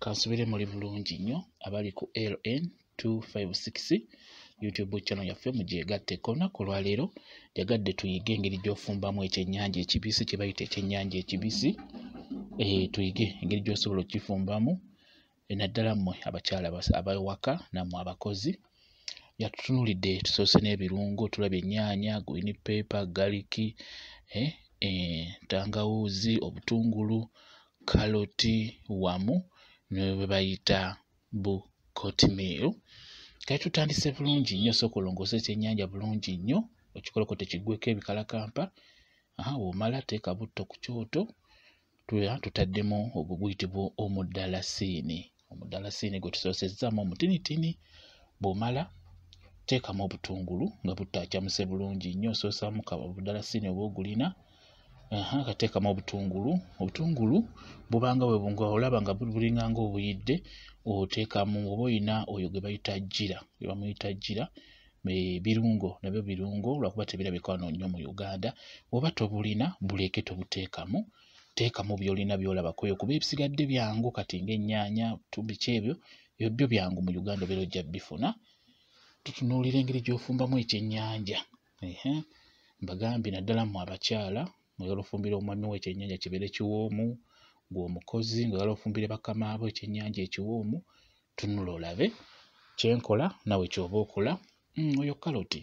kansubire muli bulungi nnyo abali ku ln 256 youtube channel yaffe mugyegatteko olunaku olwaleero jagadde tuyige engeri gyofumbamu ekyenyanja ekibisi kyebayita ekyenyanja ekibisi e, tuyige engeri gyosobola okukifumbamu eh, naddala mmwe abakyala abawaka nammwe abakozi yatutunulidde tusoose n'ebirungo tulabye ennyaanya green paper garlic eh, eh, tangawuuzi obutungulu kaloti wamu ne bwe bayita bu cotmeal kati tutandise bulungi nnyo sooka olongoose ekyennyanja bulungi nnyo okikoleko tekiggweko ebikalakampa aha womala teeka butto ku kyoto tuya tutaddemu ogwo guyitibwa omudalasiini omudalasiini gwe tusoosezzamu omutinitini bw'omala teekamu obutungulu nga butaacamuse bulungi nnyo osoosamu obudalasiini oba ogulina akateekamu obutungulu obutungulu bubanga bwebunga olaba nga bulinganga obuyidde oteekamu oba olina oyo gwe bayita jjira gwe bamuyita jjira birungo nabyo birungo lwakuba tebirabika wano nnyo mu uganda oba tobulina buleeke tobuteekamu teekamu byolina byolaba kweyo kuba ebisigadde byangu kati ngaennyanya tubiki ebyo ebyo byo byangu mu uganda obeera ojja bifuna tutunuulira engeri gyofumbamu ekyennyanja mbagambye naddala mu abakyala oyala ofumbira omwami wo ekyennyanja kibeere kiwoomu gweomukozi ngaoyala ofumbire bakamaabo ekyennyanja ekiwoomu tunula olabe kyenkola nawe kyoba okola mm, oyo kaloti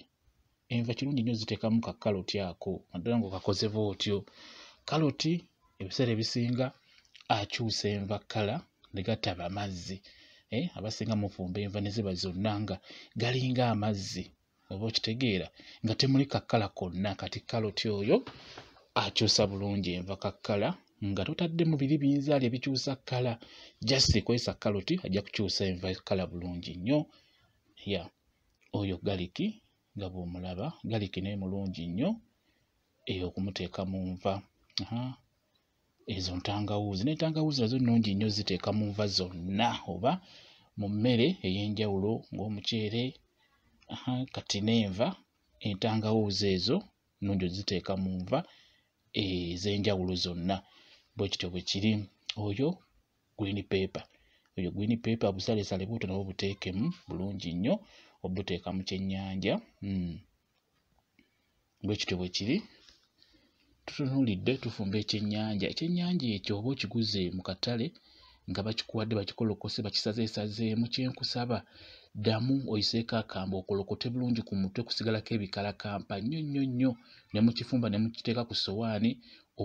enva kirungi nnyo ziteekamu ka kaloti ako naddala nga okakozeba otyo kaloti ebiseera ebisinga akyusa enva kkala ne gataba amazzi eh, abasinga mufumba enva ne ziba zonna nga galinga amazzi oba okitegeera nga temuli kakkala konna kati kaloti oyo akyusa bulungi enva kakkala nga totaddemu biri binzaali ebikyusa kkala just ekozesa kaloti ajja kukyusa enva kkala bulungi nnyo ya oyo galiki nga bwomulaba galiki naye mulungi nnyo eyo okumuteeka mu nva ezo ntangawuuzi n'entangawuuzi nazo nnungi nnyo ziteeka mu nva zonna oba mu mmere ey'enjawulo ng'omuceere kati n'enva entangawuuzi ezo nnungi oziteeka mu nva ez'enjawulo zonna bwe kityo bwe kiri oyo green paper oyo green paper busalesale buto nabwo buteekemu bulungi nnyo obuteeka mu kyennyanja mm. bwe kityo bwe kiri tutunuulidde tufumba ekyennyanja ekyennyanja ekyo oba okiguze mu katale nga bakikuwadde bakikolokose bakisazeesazeemu kyenkusaba ddamu oyiseeko akambe okolokote bulungi ku mutwe kusigalako ebikalakampa nnyo nnyo nnyo ne mu kifumba ne mukiteeka ku sowaani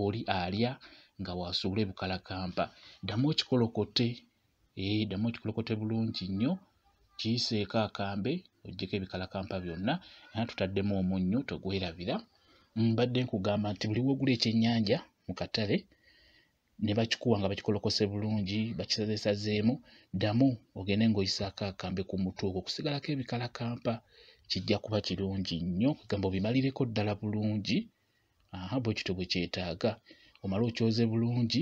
oli alya nga waasuula ebikalakampa ddamu okikolokote ee eh, ddamu okikolokote bulungi nnyo kiyiseeko akambe ojjeko ebikalakampa byonna era tutaddemu omunnyo togwerabira mbadde nkugamba nti buli wogula ekyennyanja mu katale ne bakikuwa nga bakikolokose bulungi bakisazesazeemu ddamu ogende ng'oyisaako akambe ku mutwe ogwo okusigalako ebikalakampa kijja kuba kirungi nnyo kugamba obimalireko ddala bulungi aha bwe kityo bwe kyetaaga omale okyoze bulungi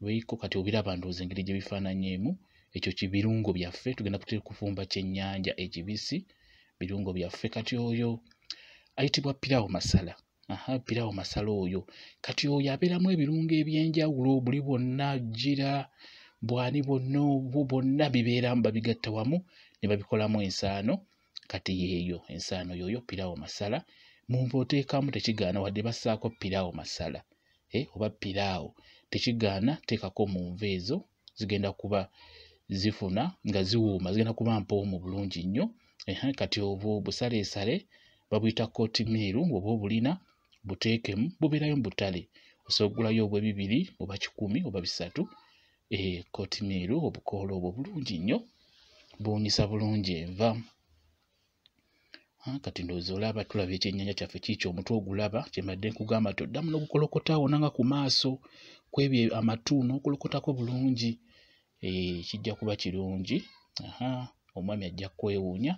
Lweiko kati obiraba ndowooza engeri gye bifaananyeemu ekyo kibirungo byaffe tugenda kutera kufumba kyennyanja ekibisi birungo byaffe kati oyo ayitibwa pirawo masala aha pirawo masala oyo kati oyo abeeramu ebirungo ebyenjawulo buli bwonna jira bwani bwonna obwo bwonna bibeeramu babigatta wamu ne babikolamu ensaano kati yeeyo ensaano yooyo pirawo masala mumba oteekamu tekigaana wadde bassaako pirawo masala eh, oba pirawo tekigaana teekako mu nva ezo zigenda kuba zifuna nga ziwuuma zigenda kuba mpoomu bulungi nnyo kati obwo busaleesale babuyita kotimiiru oba obulina buteekemu bubeerayo mu butale osogulayo obwe bibiri oba kikumi oba bisatu ekotimiiru eh, obukoola obwo bulungi nnyo buwunyisa bulungi enva ah, kati ndowooza olaba tulaba ekyennyanja kyaffe kiikyo omutwe ogulaba kyembadde nkugamba nti oddamu n'okukolokota wona nga ku maaso kwebyo amatu n'okulokotako bulungi eh, kijja kuba kirungi omwami ajja kwewuunya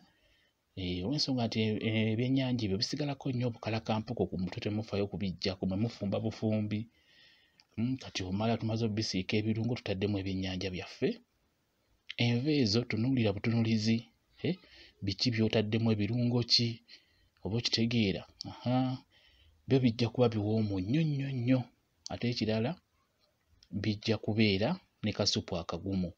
Eh, olwensonga nti eh, eh, ebyennyanja ebyo bisigalako nnyo obukalakampuko ku mutwe temufayo kubijjako mwe mufumba bufumbi hmm, kati omala tumaze obisiika ebirungo tutaddemu ebyennyanja byaffe enva ezo tunuulira butunulizi biki byotaddemu ebirungo ki oba okitegeera byo bijja kuba biwoomu nnyo nnyo nnyo ate ekirala bijja kubeera ne kasupu akagumu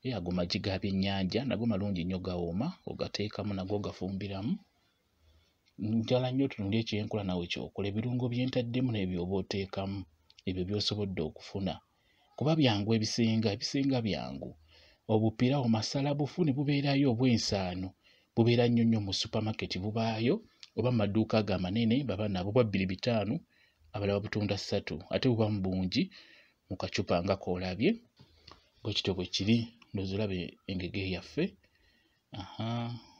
e ago magi ga byennyanja nago malungi nnyo gawooma ogateekamu nago ogafumbiramu njala nnyo tunulya ekyenkola nawe kyokola ebirungo bye ntaddemu n'ebyo oba oteekamu ebyo by'osobodde okufuna kuba byangu ebisinga ebisinga byangu obupirawo masala bufu ne bubeerayo obw'ensaano bubeera nnyo nnyo mu supamaketi bubaayo oba mu maduuka ago amanene baba nabo bwa bbiri bitaano abalala babutunda ssatu ate buba mu bungi mu kacupa nga koolabye bwe kityo bwe kiri ndowooza olaba engege yaffe aha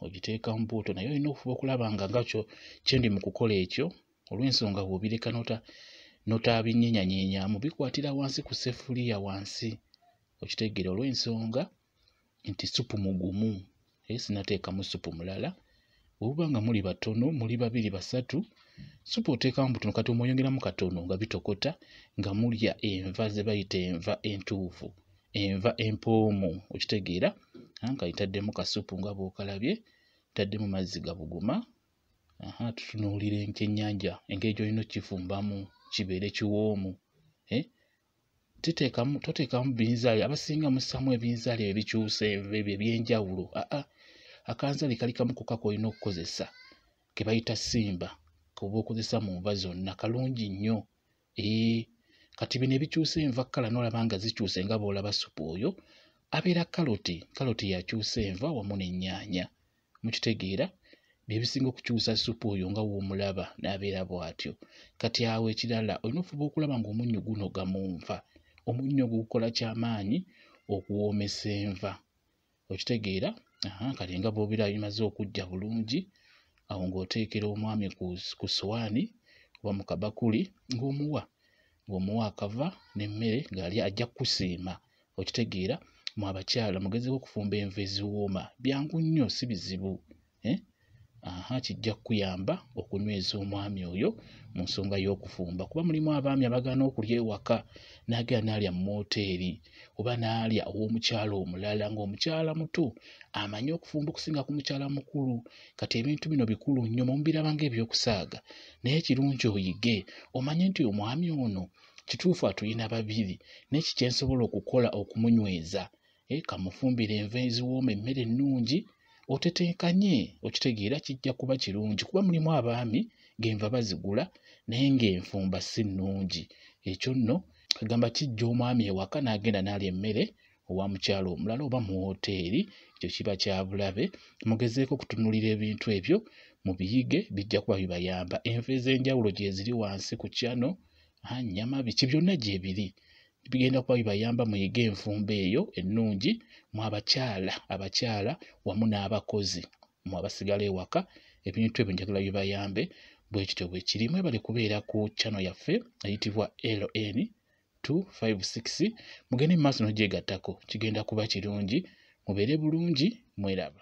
ogiteeka mu buuto naye olina okufuba okulaba nga ngakyo kyendi mu kukola ekyo olw'ensonga bw'obireka nota notaabinyenyanyenyamu bikwatira wansi ku sefuliya wansi okitegeera olw'ensonga nti supu mugumu naye sinateekamu supu mulala obuba nga muli batono muli babiri basatu supu oteekamu butono kati omweyongeramu katono nga bitokota nga mulya enva ze bayita enva entuufu enva empoomu okitegeera anka itaddemu kasupu nga bwokalabye taddemu mazzi gabuguma aha tutunuulira enkenyanja engeri gyolina okifumbamu kibeere kiwoomu eh? titeekamu toteekamu binzaali abasinga mussaamu ebinzaali ebyo bikyusa ebyo ebyenjawulo aa akanzaali kali kamu koka kolina okukozesa ke bayita simba koba okozesa mu nva zonna kalungi nnyo ee kati bino ebikyusa enva kkala nolaba nga zikyuse nga boolaba supu oyo abeera kaloti kaloti yakyusa enva wamu n'ennyaanya mukitegeera bye bisinga okukyusa supu oyo nga w'omulaba n'abeera bw'atyo kati awo ekirala olina ofuba okulaba ng'omunnyo gunoga mu nva omunnyo ogwo gukola kyamaanyi okuwoomesa enva okitegeera kati nga bw'obeera bimaze okujja bulungi awo ng'oteekera omwami ku sowaani oba mu kabakuli ng'omuwa ng'omuwa akava n'emmere ng'ali ajja kukusiima okitegeera mu abakyala mugezeko okufumba enva eziwooma byangu nnyo si bizibu eh? aha kijja kukuyamba okunyweza omwami oyo mu nsonga y'okufumba kuba mulimu abaami abagaana okulya ewaka n'agenda n'alya mu mooteeri oba n'alya ow'omukyala omulala ng'omukyala muto amanyi okufumba okusinga ku mukyala mukulu kati ebintu bino bikulu nnyo mumubiraba ng'ebyokusaaga naye kirungi oyige omanye nti omwami ono kituufu atulina babiri neki kyensobola okukola okumunyweza e kamufumbire enva eziwooma emmere ennungi otetenkanye okitegeera kijja kuba kirungi kuba mulimu abaami genva bazigula naye ng'enfumba si nnungi ekyo nno agamba kijja omwami ewaka n'agenda n'alya emmere owa mukyala omulala oba mu wooteeri ekyo kiba kya bulabe mugezeeko okutunuulira ebintu ebyo mu biyige bijja kuba bibayamba enva ez'enjawulo gyeziri wansi ku kyano nyama biki byonna gyebiri bigenda kuba bibayamba muyige enfumba eyo ennungi mu abakyala abakyala wamu n'abakozi mu abasigala ewaka ebintu ebyo njagala bibayambe bwekityo bwekiri mwebale kubeera ku kyano yaffe eyitibwa ln 256 mugende mu maaso n'ogyegattako kigenda kuba kirungi mubeere bulungi mweraba